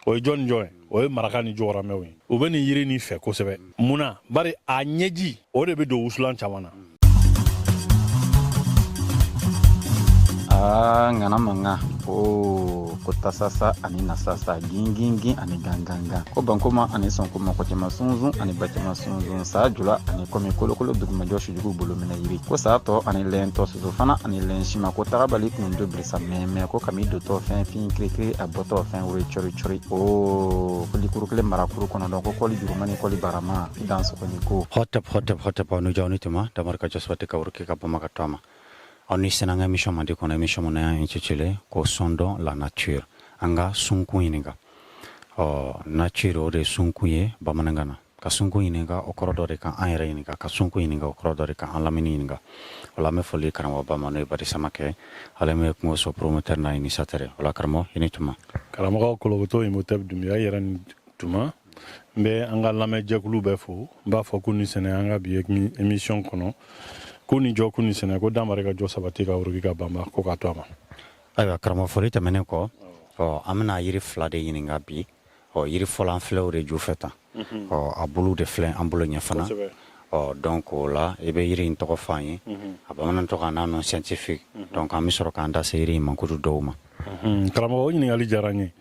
o ye jɔn ni jɔn ye o ye maraka ni jɔgɔramɛw ye u bɛ nin yiri nin fɛ kosɛbɛ mun na bari a ɲɛji o de bɛ don wusulan caman na aa ŋana mankan o ko tasasa ani nasasa gingingin ani gangangan ko bankoma ani sɔnkoma kɔcɛma sunzun ani bacɛma sunzun saa jula ani kɔmi kolokolo dugumajɔ sujugu bolo minɛ yiri ko saa tɔ ani lɛntɔ soso fana ani lɛn sima ko tagabali kun do samiyɛ mɛ ko kami dontɔ fɛn fin kirikiri a bɔtɔ fɛn woro cɔri cɔri o kɔli kuru kelen mara kuru kɔnɔntɔn ko kɔli juruma ni kɔli barama i dansɔgɔ ni ko hɔtɛp hɔtɛp hɔtɛp aw ni jɔ aw ni tuma damari ka jɔ sabati ka woroki ka banba ka to a ma aw ni sɛnɛ an ka émission mandi kɔnɔ émission min n'an y'a intitulé ko sondons la nature an ka sunkun ɲininka ɔ nature o de sunkun ye bamanankan na ka sunkun ɲininka o kɔrɔ dɔ de ka an yɛrɛ ɲininka ka sunkun ɲininka o kɔrɔ dɔ de ka an lamini ɲininka o la an bɛ foli karamɔgɔba ma n'o ye badi samake ale min ye kungo so promoteur n'a initiateur ye o la karamɔgɔ i ni tuma karamɔgɔ kolokoto imhotep dunbiya i yɛrɛ ni tuma n bɛ an ka lamɛn jɛkulu bɛɛ fo n b'a fɔ k'u ni sɛnɛ an ka bi émission kɔnɔ k'u ni jɔ k'u ni sɛnɛ ko dan mare ka jɔ sabati ka woroki ka banba ko ka to a ma Ayiwa karamɔgɔ foli tɛmɛnen kɔ an bɛna yiri fila de ɲininka bi ɔ yiri fɔlɔ an filɛ o de ju fɛ tan ɔ a bulu de filɛ an bolo ɲɛ fana ɔ donc o la i bɛ yiri in tɔgɔ f'an ye a bamanan tɔgɔ n'a nom scientifique donc an bɛ sɔrɔ k'an da se yiri in mankutu dɔw ma karamɔgɔ o ɲininkali diyara n ye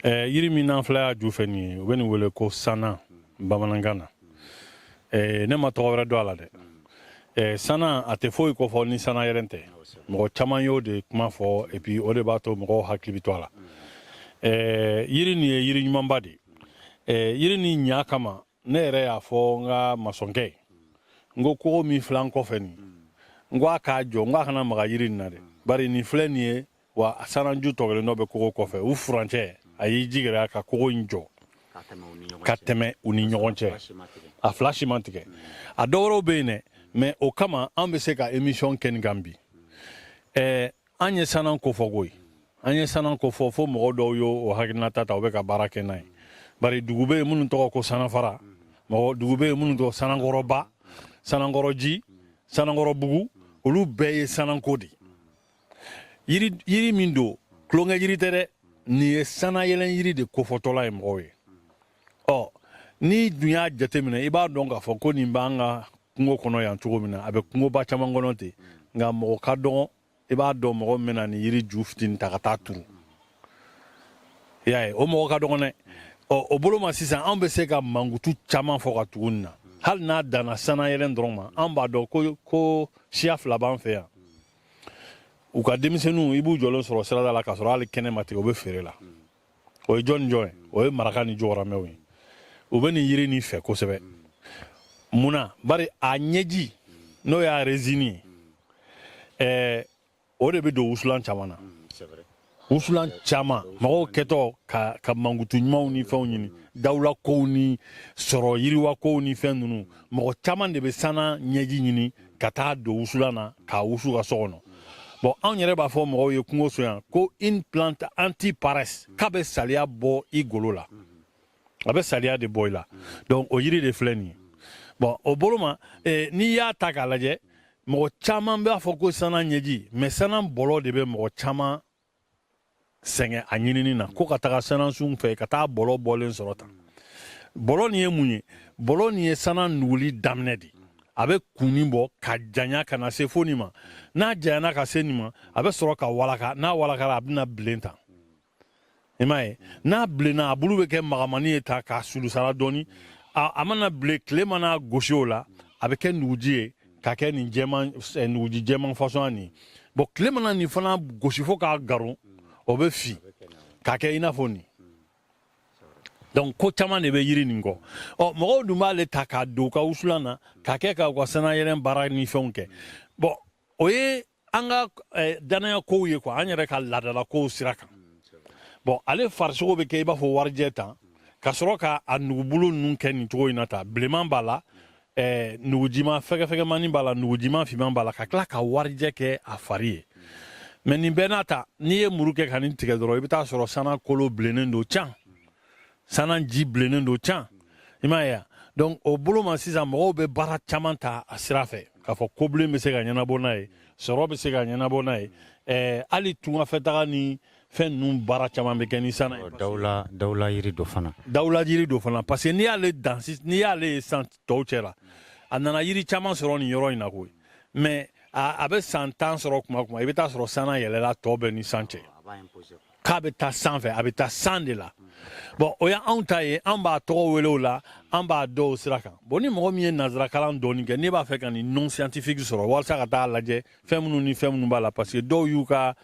yiri min an filɛ a ju fɛ nin ye u bɛ nin wele ko sana bamanankan na ne ma tɔgɔ wɛrɛ dɔn a la dɛ Eh, sana a tɛ foyi kofɔ ni sanayɛlɛn tɛ mɔgɔ caman y'o de kuma fɔ et puis o de b'a to mɔgɔw hakili bɛ to a la eh, yiri nin ye yiri ɲumanba de eh, yiri nin ɲa kama ne yɛrɛ y'a fɔ n ka masɔnkɛ n ko kogo min filɛ an kɔfɛ nin n ko a k'a jɔ n ko a kana maga yiri nin na dɛ bari nin filɛ nin ye wa a sanaju tɔgɔlen dɔ bɛ kogo kɔfɛ u furancɛ a y'i jigira ka kogo in jɔ ka tɛmɛ u ni ɲɔgɔn cɛ a fila si ma tigɛ a dɔ wɛrɛw bɛ yen dɛ mais o kama an bɛ se ka émission kɛ nin kan bi ɛɛ an ye sanan kofɔ koyi an ye sanan kofɔ fo mɔgɔ dɔw y'o o hakilinata ta u bɛ ka baara kɛ n'a ye bari dugu bɛ yen minnu tɔgɔ ko sanafara mɔgɔ dugu bɛ yen minnu tɔgɔ sanankɔrɔba sanankɔrɔji sanankɔrɔbugu olu bɛɛ ye sananko de ye yiri min don tulonkɛ yiri tɛ dɛ nin ye sanayɛlɛn yiri de kofɔtɔla ye mɔgɔw ye ɔ n'i dun y'a jateminɛ i b'a dɔn k'a fɔ ko nin b'an ka kungo kɔnɔ yan cogo min na a bɛ kungoba caman kɔnɔ ten nka mɔgɔ ka dɔgɔn i b'a dɔn mɔgɔ min bɛna nin yiri ju fitini ta ka taa turu i y'a ye o mɔgɔ ka dɔgɔn dɛ ɔ o bolo ma sisan anw bɛ se ka mankutu caman fɔ ka tugu nin na hali n'a danna sanayɛlɛn dɔrɔn ma an b'a dɔn ko siya fila b'an fɛ yan u ka denmisɛnninw i b'u jɔlen sɔrɔ sirada la k'a sɔrɔ hali kɛnɛ ma tigɛ u bɛ feere la o ye jɔn ni jɔn ye o ye maraka ni jɔgɔramɛw ye u bɛ nin yiri nin fɛ kosɛbɛ mun na bari a ɲɛji n'o y'a rezini ye ɛɛ o de bɛ don wusulan caman na wusulan caman mɔgɔw kɛtɔ ka ka mankutu ɲumanw ni fɛnw ɲini dawula kow ni sɔrɔ yiriwa kow ni fɛn ninnu mɔgɔ caman de bɛ sana ɲɛji ɲini ka taa don wusulan na k'a wusu ka so kɔnɔ bɔn anw yɛrɛ b'a fɔ mɔgɔw ye kungo so yan ko un plante anti paresse k'a bɛ saliya bɔ i golo la a bɛ saliya de bɔ i la donc o yiri de filɛ nin ye bon o bolo ma eh, n'i y'a ta k'a lajɛ mɔgɔ caman b'a fɔ ko sana ɲɛji mais sana bɔlɔ de bɛ mɔgɔ caman sɛgɛn a ɲinini na ko ka taga sanansun fɛ ka taa bɔlɔ bɔlen sɔrɔ tan bɔlɔ nin ye mun ye bɔlɔ nin ye sana nuguli daminɛ de a bɛ kunni bɔ ka janya ka na se fo nin ma n'a janyana ka se nin ma a bɛ sɔrɔ ka walaka n'a walakara a bɛna bilen tan i m'a ye n'a bilenna a bulu bɛ kɛ magamani ye tan k'a sulusara dɔɔni a mana bilen tile mana gosi o la a bɛ kɛ nuguji ye ka kɛ nin jɛman eh, nuguji jɛman fasɔn nin bɔn tile mana nin fana gosi fo k'a garon o bɛ fin ka kɛ i n'a fɔ nin donc ko caman de bɛ yiri nin kɔ ɔ mɔgɔw dun b'ale ta k'a don u ka wusulan na k'a kɛ ka u ka sannayɛlɛn baara ni fɛnw kɛ bɔn o ye an ka eh, dannaya kow ye quoi an yɛrɛ ka laadala kow sira kan bɔn ale farisogo bɛ kɛ i b'a fɔ warijɛ tan ka sɔrɔ ka a nugubulu ninnu kɛ nin cogo in na tan bilenman b'a la eh, nugujiman fɛgɛfɛgɛmani b'a la nugujiman finman b'a la ka tila ka warijɛ kɛ a fari ye mais nin bɛɛ n'a ta n'i ye muru kɛ ka nin tigɛ dɔrɔn i bɛ taa sɔrɔ sana kolo bilennen don can sanan ji bilennen don can i m'a ye donc o bolo ma sisan mɔgɔw bɛ baara caman ta a sira fɛ k'a fɔ kobilen bɛ se ka ɲɛnabɔ n'a ye sɔrɔ bɛ se ka ɲɛnabɔ n'a ye ɛɛ hali tungafɛtaga ni fɛn ninnu baara caman bɛ kɛ ni sana ye dawula dawula yiri don fana dawula yiri don fana parce que n'i y'ale dan n'i y'ale ye san tɔw cɛ la a nana yiri caman sɔrɔ nin yɔrɔ in na koyi mais a bɛ san tan sɔrɔ kuma kuma i bɛ taa sɔrɔ sana yɛlɛla tɔ bɛɛ ni san cɛ k'a bɛ taa san fɛ a bɛ taa san de la bɔn o y'anw ta ye an b'a tɔgɔ wele o la an b'a dɔn o sira kan bɔn ni mɔgɔ min ye nanzarakalan dɔɔni kɛ n'i b'a fɛ ka nin nom scientifique sɔrɔ walasa ka taa lajɛ fɛn minnu ni fɛn minnu b'a la parce que dɔw y'u ka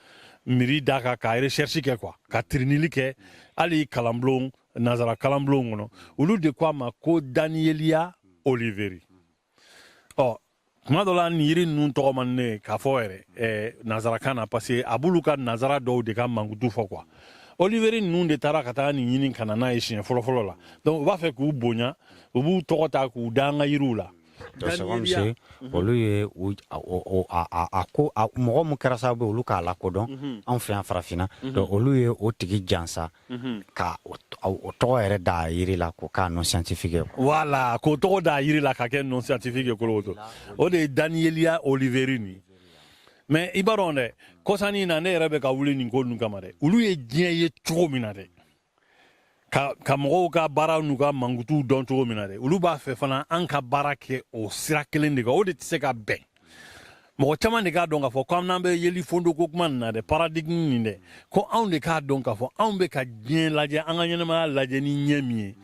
miiri d'a kan ka recherche kɛ quoi ka tirinili kɛ hali kalanbulon nanzara kalanbulon kɔnɔ olu de ko a ma ko daniellia oliveri ɔ kuma dɔ la ni yiri ninnu tɔgɔ man di ne k'a fɔ yɛrɛ eh, nazarakan na parce que a b'olu ka nazara dɔw de ka mankutu fɔ quoi oliveri ninnu de taara ka taa nin ɲini ka na n'a ye siɲɛ fɔlɔfɔlɔ la donc u b'a fɛ k'u bonya u b'u tɔgɔ ta k'u da an ka yiriw la olu ye a ko mɔgɔ min kɛra sababu olu k'a lakodɔn mhm. anw fɛ yan farafinna mhm. donc olu ye o tigi jansa ka o tɔgɔ yɛrɛ da yiri la ko k'a nom scientifique voilà k'o tɔgɔ da yiri la ka kɛ nom scientifique koloto o de ye daniellia oliveri nin mais i b'a dɔn dɛ kɔsa nin na ne yɛrɛ bɛ ka wuli nin ko ninnu kama dɛ olu ye diɲɛ ye cogo min na dɛ ka mɔgɔw ka baara n'u ka mankutu dɔn cogo min na dɛ olu b'a fɛ fana an ka baara kɛ o sira kelen de kan o de tɛ se ka bɛn mɔgɔ caman de k'a dɔn k'a fɔ ko n'an bɛ yeli fondo ko kuma nin na dɛ paradigme nin dɛ ko anw de k'a dɔn k'a fɔ anw bɛ ka diɲɛ lajɛ an ka ɲɛnamaya lajɛ ni ɲɛ min ye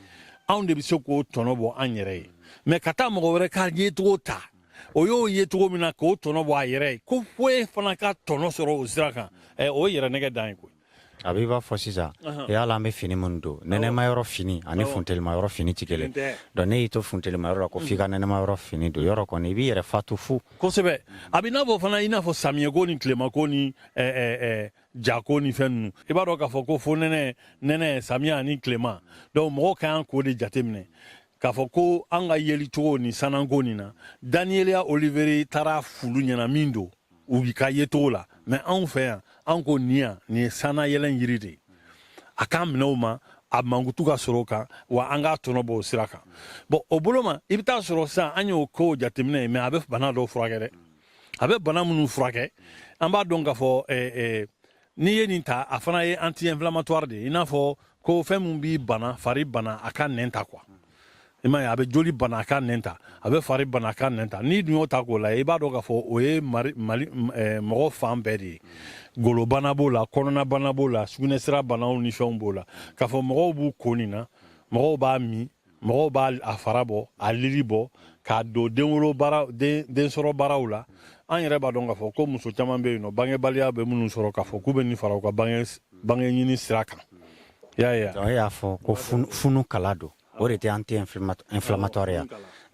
anw de bɛ se k'o tɔnɔ bɔ an yɛrɛ ye mais ka taa mɔgɔ wɛrɛ ka yecogo ta o y'o ye cogo min na k'o tɔnɔ bɔ a yɛrɛ ye ko foyi fana ka tɔnɔ sɔrɔ o sira kan o ye yɛrɛnɛgɛn dan ye koyi A b'i b'a fɔ sisan yala an bɛ fini minnu don nɛnɛma yɔrɔ fini ani funtɛlima yɔrɔ fini tɛ kelen donc n'e y'i to funtɛlima yɔrɔ la ko f'i ka nɛnɛma yɔrɔ fini don yɔrɔ kɔni i b'i yɛrɛ fatu fo kosɛbɛ a bɛ n'a fɔ fana i n'a fɔ samiyɛko ni tilema ko ni jako ni fɛn ninnu i b'a dɔn k'a fɔ ko fonɛnɛ nɛnɛ samiya ani tilema donc mɔgɔ ka kan k'o de jateminɛ k'a fɔ ko an ka yelicogo ni sananko nin na daniellia oliveri taara fulu ɲɛna min don u ka ye cogo la mais anw fɛ yan an ko nin yan nin ye sanna yɛlɛn yiri de ye a k'an minɛ o ma a mankutu ka sɔrɔ o kan wa an k'a tɔnɔ bɔ o sira kan bon o bolo ma i bɛ taa sɔrɔ sisan an y'o ko jateminɛ ye mais a bɛ bana dɔw furakɛ dɛ a bɛ bana minnu furakɛ an b'a dɔn k'a fɔ n'i ye nin ta a fana ye anti inflammatoire de ye i n'a fɔ ko fɛn min b'i bana fari bana a ka nɛn ta quoi i m'a ye a bɛ joli bana a ka nɛn ta a bɛ fari bana a ka nɛn ta n'i dun y'o ta k'o lajɛ i b'a dɔn k'a fɔ o ye mali mali eh, mɔgɔ fan bɛɛ de ye golobana b'o la kɔnɔnabana b'o la sugunɛsira banaw ni fɛnw b'o la k'a fɔ mɔgɔw b'u ko nin na mɔgɔw b'a min mɔgɔw b'a a fara bɔ a lili bɔ k'a don denwolo baara den den sɔrɔ baaraw la an yɛrɛ b'a dɔn k'a fɔ ko muso caman bɛ yen nɔ bangebaliya bɛ minnu sɔrɔ k'a fɔ k'u bɛ nin fara u ka bange bange ɲini sira kan i y'a ye wa? e y'a fɔ ko funu, funu kala don o de tɛ anti inflammatoire ya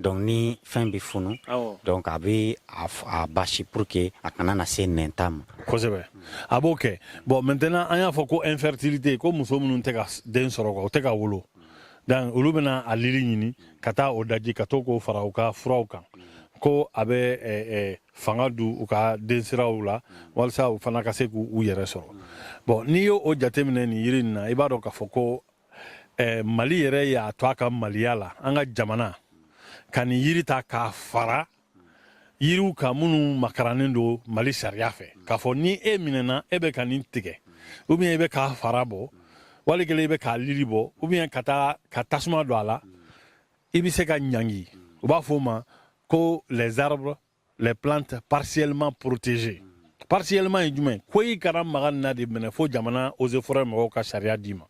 donc ni fɛn bɛ funu Awɔ. donc a bɛ a f- a basi pour que a kana na se nɛnta ma kosɛbɛ a b'o kɛ bon maintenant an y'a fɔ ko infertilité ko muso minnu tɛ ka s- den sɔrɔ quoi, u tɛ ka wolo donc olu bɛna a lili ɲini ka taa o daji ka to k'o fara u ka furaw kan ko a bɛ eh, eh, fanga don u ka densiraw la walisa u fana ka se k'u yɛrɛ sɔrɔ bon n'i y'o o jateminɛ nin yiri nin na i b'a dɔn k'a fɔ ko eh, mali yɛrɛ y'a to a ka maliya la an ka jamana ka nin yiri ta k'a fara yiriw kan minnu makarannen don mali sariya fɛ k'a fɔ ni e minɛna e bɛ ka nin tigɛ ou bien i bɛ k'a fara bɔ wali kelen i bɛ k'a lili bɔ ou bien ka taa ka tasuma don a la i bɛ se ka ɲangi u b'a fɔ o ma ko les arbres les plantes partiellement protégées partiellement ye jumɛn ko i kana maga nin na de minɛ fo jamana eaux et forêts mɔgɔw ka sariya d'i ma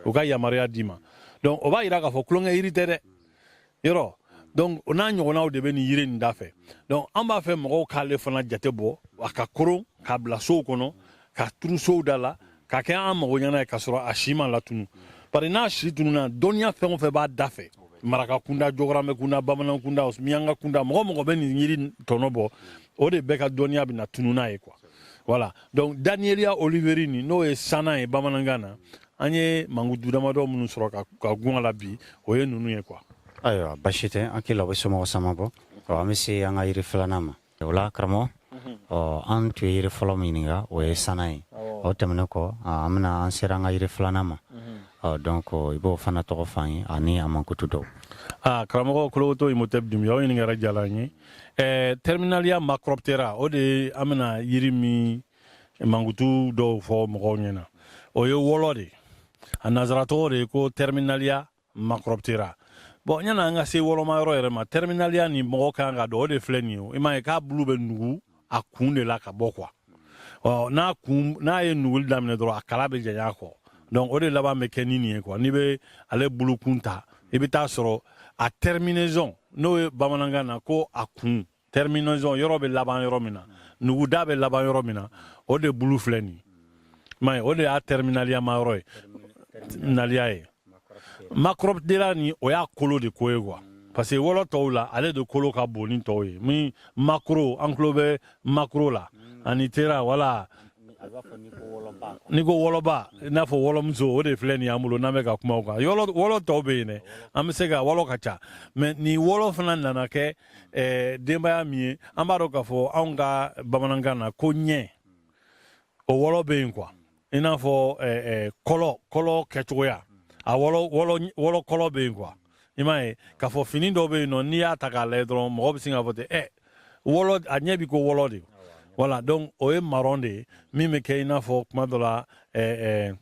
u ka yamaruya d'i ma donc o b'a yira k'a fɔ tulonkɛ yiri tɛ dɛ yɔrɔ donc o n'a ɲɔgɔnnaw de bɛ nin yiri nin da fɛ donc an b'a fɛ mɔgɔw k'ale fana jate bɔ a ka koron k'a bila sow kɔnɔ k'a turu sow da la k'a kɛ an mago ɲɛna ye k'a sɔrɔ a si ma latunu bari n'a si tununa dɔnniya fɛn o fɛn b'a da fɛ maraka kunda jɔgɔramɛ kunda bamanan kunda miyanka kunda mɔgɔ o mɔgɔ bɛ nin yiri tɔnɔ bɔ o de bɛɛ ka dɔnniya bɛna tunu n'a ye quoi voilà donc daniellia oliveri nin n'o ye sanan ye bamanankan na an ye mankutu damadɔ minnu sɔrɔ ka gun a la bi o ye ninnu ye quoi ayiwa basi tɛ an k'i labɔ somɔgɔ sama bɔ an bɛ se an ka yiri filanan ma o la karamɔgɔ mhm. ɔ an tun ye yiri fɔlɔ min ɲininka o ye sana ye o tɛmɛnen kɔ an bɛna an sera an ka yiri filanan ma mhm. ɔ donc i b'o fana tɔgɔ fɔ an ye ani a mankutu dɔw aa karamɔgɔ kologoto imhotep dunbiya o ɲininkali diyara an ye ɛɛ terminalia macroptera o de an bɛna yiri min mankutu dɔw fɔ mɔgɔw ɲɛna o ye wɔlɔ de a nansara tɔgɔ de ko terminalia macroptera bon yanni an ka se wɔlɔma yɔrɔ yɛrɛ ma terminalia nin mɔgɔ kan k'a dɔn o de filɛ nin ye i m'a ye k'a bulu bɛ nugu a kun de la ka bɔ quoi ɔ n'a kun n'a ye nuguli daminɛ dɔrɔn a kala bɛ janya quoi donc o de laban bɛ kɛ ni nin ye quoi n'i bɛ ale bulukun ta i bɛ t'a sɔrɔ a terminaison n'o ye bamanankan na ko a kun terminaison yɔrɔ bɛ laban yɔrɔ min na nuguda bɛ laban yɔrɔ min na o de bulu filɛ nin ma o de y'a terminaliama yɔrɔ ye nalia ye macroptera nin o y'a kolo de ko ye quoi parce que wɔlɔ tɔw la ale de kolo ka bon ni tɔw ye min macro an tulo bɛ macro la ani ptera voilà n'i ko wɔlɔba i n'a fɔ wɔlɔmuso o de filɛ nin y'an bolo n'an bɛ ka kuma o kan wɔlɔ tɔw bɛ yen dɛ an bɛ se ka wɔlɔ ka ca mais nin wɔlɔ fana nana kɛ eh, denbaya min ye an b'a dɔn k'a fɔ anw ka bamanankan na ko ɲɛ o wɔlɔ bɛ yen quoi i n'a fɔ eh, eh, kɔlɔ kɔlɔ kɛcogoya a wɔlɔ wɔlɔ wɔlɔ kɔlɔ bɛ yen quoi i m'a ye k'a fɔ fini dɔ bɛ yen nɔ n'i y'a ta k'a lajɛ dɔrɔn mɔgɔ bɛ sin k'a fɔ ten ɛ wɔlɔ a ɲɛ bɛ ko wɔlɔ de voilà donc o ye marron de ye min bɛ kɛ i n'a fɔ kuma dɔ la eh, eh,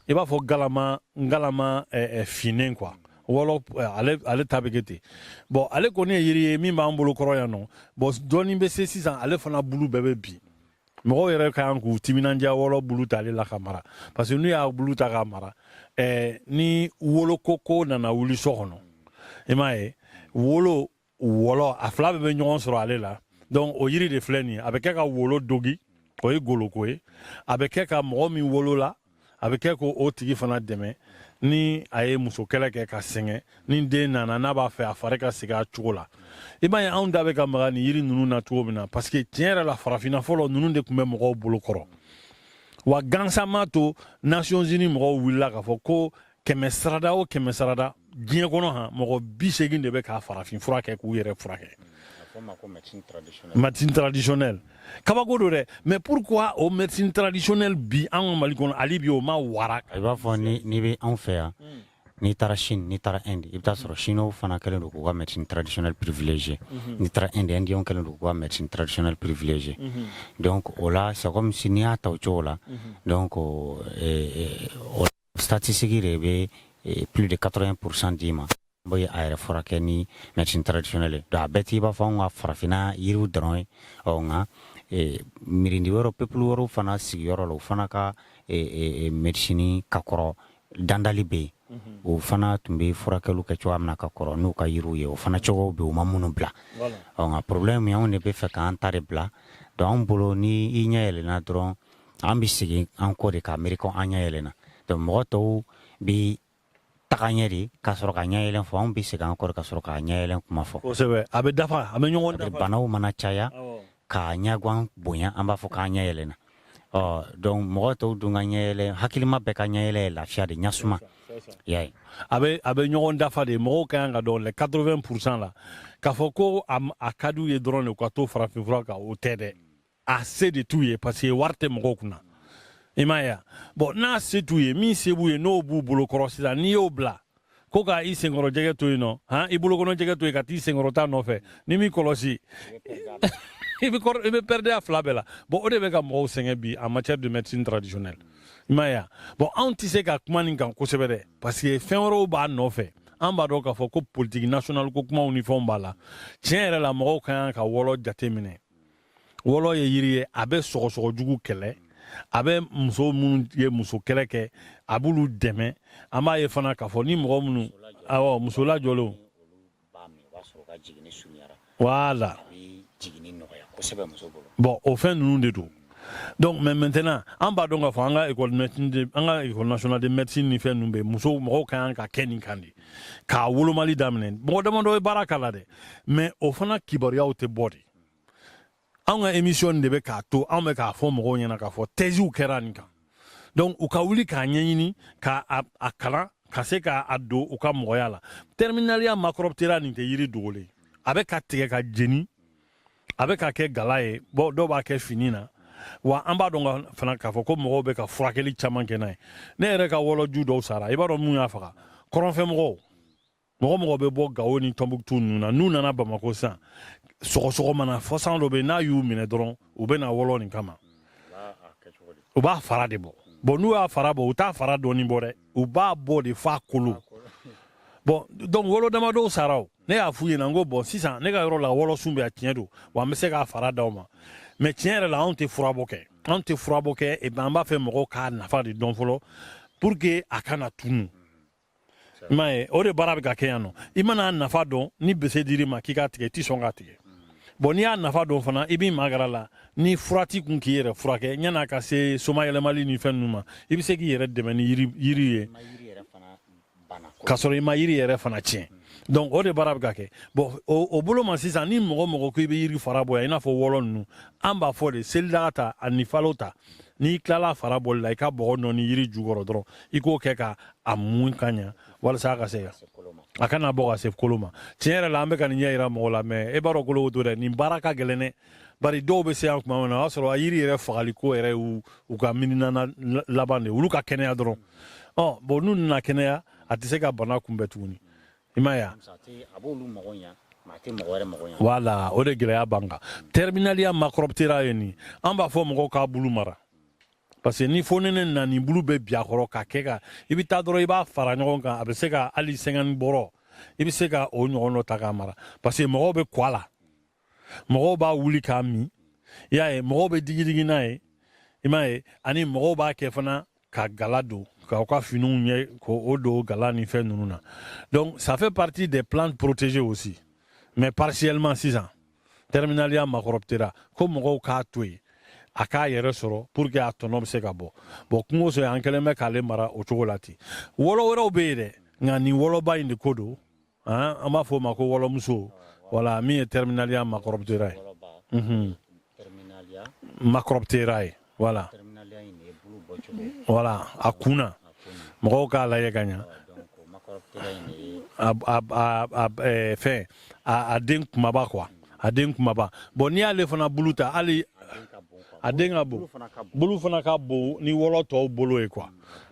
i b'a fɔ galama galama eh, eh, finnen quoi wɔlɔ eh, ale ale ta bɛ kɛ ten bon ale kɔni ye yiri ye min b'an bolo kɔrɔ yan nɔ bon dɔɔni bɛ se sisan ale fana bulu bɛɛ bɛ bin mɔgɔw yɛrɛ ka kan k'u timinandiya wɔlɔ bulu ta ale la k'a mara parce que n'u y'a bulu ta k'a mara ɛɛ ni wolokoko nana wuli so kɔnɔ i m'a ye wolo wɔlɔ a fila bɛɛ bɛ ɲɔgɔn sɔrɔ ale la donc o yiri de filɛ nin ye a bɛ kɛ ka wolo dogi o ye goloko ye a bɛ kɛ ka mɔgɔ min wolola a bɛ kɛ k'o tigi fana dɛmɛ ni a ye muso kɛlɛ kɛ ka sɛgɛn ni den nana n'a b'a fɛ a fari ka sigi a cogo la i b'a ye anw da bɛ ka maga nin yiri ninnu na cogo min na parce que tiɲɛ yɛrɛ la farafinna fɔlɔ ninnu de tun bɛ mɔgɔw bolo kɔrɔ wa gansan m'a to nations unies mɔgɔw wulila k'a fɔ ko kɛmɛsarada o kɛmɛsarada diɲɛ kɔnɔ han mɔgɔ bi seegin de bɛ ka farafinfura kɛ k'u yɛrɛ furakɛ médecine traditionnelle kabako don dɛ mais pourquoi o médecine traditionnelle bi an ka mali kɔnɔ hali bi o ma wara i b'a fɔ n'i bɛ anw fɛ yan hmm. n'i taara chine n'i taara inde i bɛ t'a sɔrɔ hmm. chinow fana kɛlen don k'u ka médecine traditionnelle privilégiée hmm. n'i taara inde indiyɛnw kɛlen don k'u ka médecine traditionnelle privilégiée donc o la c'est comme si n'i y'a ta o cogo la donc euh, euh, statistique de bɛ plus de quatre-vingt pour cent d'i ma n ye a yɛrɛ furakɛ ni médecine traditionnelle donc a bɛɛ t'i b'a fɔ an ka farafinna yiriw dɔrɔn ye ɔ nka miiridi wɛrɛw peuple wɛrɛw fana sigiyɔrɔ la o fana ka médecine ka kɔrɔ dandali bɛ yen o fana tun bɛ furakɛliw kɛ cogoya min na ka kɔrɔ n'u ka yiriw ye o fana cogo bɛ yen u ma ninnu bila nka problème anw de b'a fɛ k'an ta de bila donc an bolo ni i ɲɛ yɛlɛna dɔrɔn an bɛ segin an kɔ de ka miiri ko an ɲɛ yɛlɛna donc mɔgɔ tɔw bɛ taga ɲɛ de ka sɔrɔ ka ɲɛyɛlɛ fɔ anw bɛ segin an kɔ de ka sɔrɔ ka ɲɛyɛlɛ kuma fɔ a bɛ dafa a bɛ ɲɔgɔn dafa banaw mana caya ka ɲagwan bonya an b'a fɔ k'an ɲɛ yɛlɛna ɔ donc mɔgɔ tɔw dun ka ɲɛyɛlɛ hakilima bɛɛ ka ɲɛyɛlɛ ye lafiya de ɲɛsumaya ye a bɛ a bɛ ɲɔgɔn dafa de mɔgɔw ka kan k'a dɔn le quatre-vingt pour cent la k'a fɔ ko a ka di u ye dɔrɔn de ka to farafinfura kan o tɛ dɛ a se de t'u ye parce que wari tɛ mɔgɔw kunna i m'a ye bon n'a se t'u ye min se b'u ye n'o b'u bolo kɔrɔ sisan n'i y'o bila ko ka i senkɔrɔ jɛgɛ to yen nɔ han i bolokɔnɔ jɛgɛ to yen ka t'i senkɔrɔ ta nɔfɛ n'i m'i kɔlɔsi i bɛ perdre a fila bɛɛ la bon o de bɛ ka mɔgɔw sɛgɛn bi en matière de médecine traditionnelle i m'a ye bon anw tɛ se ka kuma nin kan kosɛbɛ dɛ parce que fɛn wɛrɛw b'a nɔfɛ an b'a dɔn k'a fɔ ko politique nationale ko kumaw ni fɛnw b'a la tiɲɛ yɛrɛ la mɔgɔw ka kan ka wɔlɔ jateminɛ wɔlɔ ye yiri ye a bɛ sɔgɔsɔgɔ jugu kɛlɛ a bɛ muso minnu ye muso kɛlɛ kɛ a b'olu dɛmɛ an b'a ye fana k'a fɔ ni mɔgɔ minnu awɔ muso lajɔlenw voilà bon o fɛn ninnu de don donc mais maintenant an b'a dɔn k'a fɔ an ka école nationale de médecine ni fɛn ninnu bɛ musow mɔgɔw ka kan ka kɛ nin kan de k'a wolomali daminɛ mɔgɔ damadɔ ye baara k'a la dɛ mais o fana kibaruyaw tɛ bɔ dɛ an ka emisiyɔn de bɛ k'a to an bɛ k'a fɔ mɔgɔw ɲɛna k'a fɔ tɛziw kɛra nin kan donc u ka wuli k'a ɲɛɲini ka a kalan ka se ka a don u ka mɔgɔya la terminaliya makɔrɔptera nin tɛ yiri dogolen ye a bɛ ka tigɛ ka jeni a bɛ ka kɛ gala ye bon dɔw b'a kɛ fini na wa an b'a dɔn fana k'a fɔ ko mɔgɔw bɛ ka furakɛli caman kɛ n'a ye ne yɛrɛ ka wɔlɔju dɔw sara i b'a dɔn mun y'a faga kɔrɔnfɛmɔgɔw mɔgɔ mɔgɔ bɛ bɔ gawo ni tɔnbuktu ninnu na n'u nana bamakɔ sisan sɔgɔsɔgɔ mana fɔsan dɔ bɛ n'a y'u minɛ dɔrɔn u bɛ na wɔlɔ nin kama u b'a fara de bɔ bon n'u y'a fara bɔ u t'a fara dɔɔni bɔ dɛ u b'a bɔ de f'a kolo bon donc wɔlɔ damadɔw sara o ne y'a f'u ɲɛna n ko bon sisan ne ka yɔrɔ la wɔlɔsun bɛ a tiɲɛ don wa an bɛ se k'a fara d'aw ma mais tiɲɛ yɛrɛ la anw tɛ furabɔ kɛ anw tɛ furabɔ kɛ an b'a fɛ mɔgɔw k'a nafa de dɔn fɔlɔ pour que a kana tunu m'a ye o de baara bɛ ka kɛ yan nɔ i man'a nafa dɔn ni bese dir'i ma k'i k'a tigɛ i tɛ sɔn k'a tigɛ bon n'i y'a nafa dɔn fana i b'i magara la ni furati kun k'i yɛrɛ furakɛ yan'a ka se soma yɛlɛmali ni fɛn ninnu ma i bɛ se k'i yɛrɛ dɛmɛ ni yiri ye k'a sɔrɔ i ma yiri yɛrɛ fana tiɲɛ donc o de baara bɛ ka kɛ bon o bolo ma sisan ni mɔgɔ mɔgɔ ko i bɛ yiri fara bɔ yan i n'a fɔ wɔlɔ ninnu an b'a fɔ de selidaga ta ani falo ta n'i tilala fara bɔli la i ka bɔgɔ nɔɔni yiri jukɔrɔ dɔrɔn i k'o kɛ ka a mun ka ɲa walasa a ka se a kana bɔ ka se kolo ma tiɲɛ yɛrɛ la an bɛ ka nin ɲɛ yira mɔgɔw la mais e b'a dɔn kolo to dɛ nin baara ka gɛlɛn dɛ bari dɔw bɛ se yan tuma min na o y'a sɔrɔ a yiri yɛrɛ fagali ko yɛrɛ y'u u ka miirina laban de olu ka kɛnɛya dɔrɔn ɔ bon n'u nana kɛnɛya a tɛ se ka bana kunbɛn tuguni i m'a ye voilà o de gɛlɛya b'an kan terminaliya makɔrɔbitera ye nin an b'a fɔ mɔgɔw k'a bulu mara parce que ni fonɛnɛ nana nin bulu bɛ bin a kɔrɔ ka kɛ ka i bɛ taa dɔrɔn i b'a fara ɲɔgɔn kan a bɛ se ka hali cinquante bɔrɔ i bɛ se ka o ɲɔgɔn dɔ ta k'a mara parce que mɔgɔw bɛ ko a la mɔgɔw b'a wuli k'a min i y'a ye mɔgɔw bɛ digidigi n'a ye i m'a ye ani mɔgɔw b'a kɛ fana ka gala don k'u ka finiw ɲɛ k'o don gala ni fɛn ninnu na donc ça fait partie des plantes protégées aussi mais partiellement sisan terminaliya makɔrɔptera ko mɔgɔw k'a to yen a k'a yɛrɛ sɔrɔ pour que a tɔnɔ bɛ se ka bɔ bon kungo sɔrɔ an kɛlen bɛ k'ale mara o cogo la ten wɔlɔ wɛrɛw bɛ yen dɛ nka nin wɔlɔba in de ko don an b'a fɔ o ma ko wɔlɔmuso voilà min ye terminaliya makɔrɔptera ye mhm. makɔrɔptera ye voilà voilà a kun na mɔgɔw k'a lajɛ ka ɲa fɛn a den kumaba quoi a den kumaba bon n'i y'ale fana bulu ta hali a den ka bon bulu fana ka bon ni wɔlɔ tɔw bolo ye quoi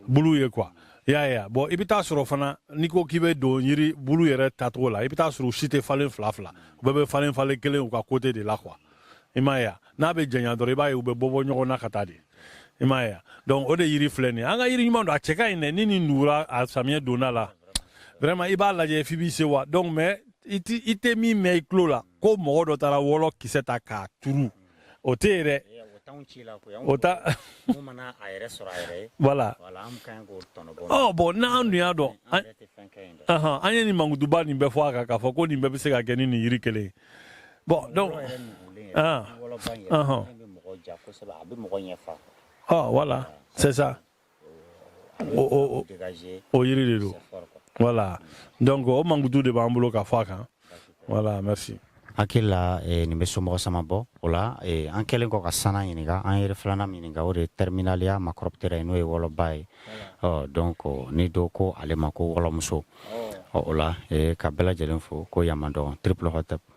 bulu ye quoi y'a ye a bon i bɛ taa sɔrɔ fana n'i ko k'i bɛ don yiri bulu yɛrɛ tacogo la i bɛ taa sɔrɔ u si tɛ falen fila fila u bɛɛ bɛ falen falen kelen u ka côté de la quoi i m'a ye a n'a bɛ janya dɔrɔn i b'a ye u bɛ bɔ bɔ ɲɔgɔn na ka taa de i m'a ye a donc o de yiri filɛ nin ye an ka yiri ɲuman don a cɛ ka ɲi dɛ ni nin nugura a samiyɛ donna la vraiment i b'a lajɛ f'i b'i sewa donc mais i tɛ min mɛn i tulo la ko mɔgɔ dɔ taara wɔlɔ kisɛ ta k'a turu o tɛ yen dɛ o ta voilà ɔ bon n'an dun y'a dɔn an ye nin mankutuba nin bɛɛ fɔ a kan k'a fɔ ko nin bɛɛ bɛ se ka kɛ ni nin yiri kelen ye bon donc ɔhɔn ɔhɔn ɔ voilà c'est ça o yiri de don voilà donc o mankutu de b'an bolo ka fɔ a kan voilà merci hakili la eh, nin bɛ somɔgɔ sama bɔ o la eh, an kɛlen kɔ ka sana ɲininka an yiri filanan min ɲininka o de ye Terminalia macroptera ye n'o ye wɔlɔba ye ɔ donc ni dɔ ko ale ma ko wɔlɔmuso ɔ o la eh, ka bɛɛ lajɛlen fo ko yamandɔn triple hotep